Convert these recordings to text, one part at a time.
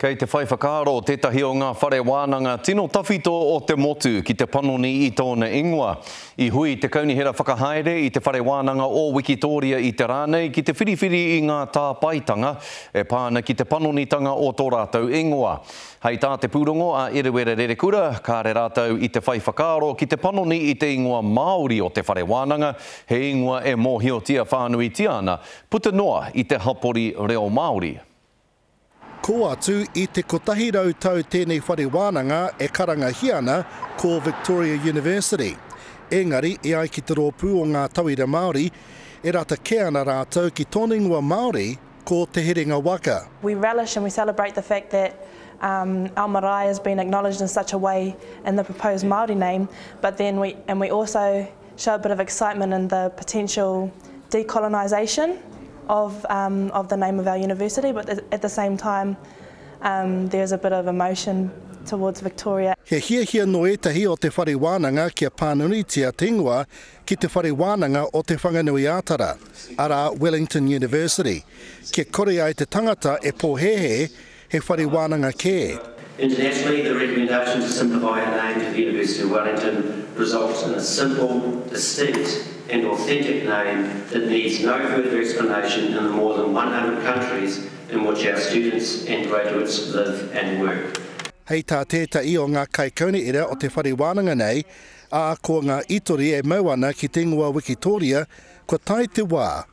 Kei te whai whakaaro tētahi o ngā whare wānanga tino tawhito o te motu ki te panoni i tōna ingoa. I hui te Kaunihera Whakahaere i te Whare Wānanga o Wikitōria i te rā nei ki te whiriwhiri i ngā tāpaetanga e pā ana ki te panonitanga o tō rātou ingoa. Hei tā te pūrongo a Eruera Rerekura, kāre rātou i te whai whakaaro ki te panoni i te ingoa Māori o te whare wānanga, he ingoa e mōhiotia whānuitia ana, puta noa i te hapori reo Māori. Kō atu i te kotahi rau tau tēnei whare wānanga e karangahia ana ko Victoria University. Engari, e ai ki te rōpū o ngā tauira Māori, e rata kē ana rātou ki tōna ingoa Māori, ko Te Herenga Waka. We relish and we celebrate the fact that our marae has been acknowledged in such a way in the proposed Māori name, but then we, and we also. show a bit of excitement in the potential decolonisation of of the name of our university but at the same time there is a bit of emotion towards Victoria. He hiahia nō ētahi o te whare wānanga kia pānunutia te ingoa ki te whare wānanga o Te Whanganui-ā-Tara, arā Wellington University, kia kore ai te tangata e pōhēhē He whare wānanga kē. Internationally, the recommendation to simplify our name to the University of Wellington results in a simple, distinct and authentic name that needs no further explanation in the more than one hundred countries in which our students and graduates live and work. Hei tā tētahi o ngā kaikauniera o te whare wānanga nei, ā, ko ngā itori e mau ana ki te ingoa Wikitōria, kua tae te wā,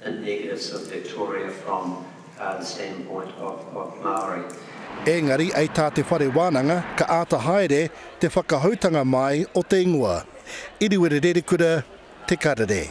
the negatives of Victoria from the standpoint of Māori. Engari ai tā te whare wānanga ka āta haere te whakahoutanga māi o te ingoa. Iriwere Rerekura, Te Karere.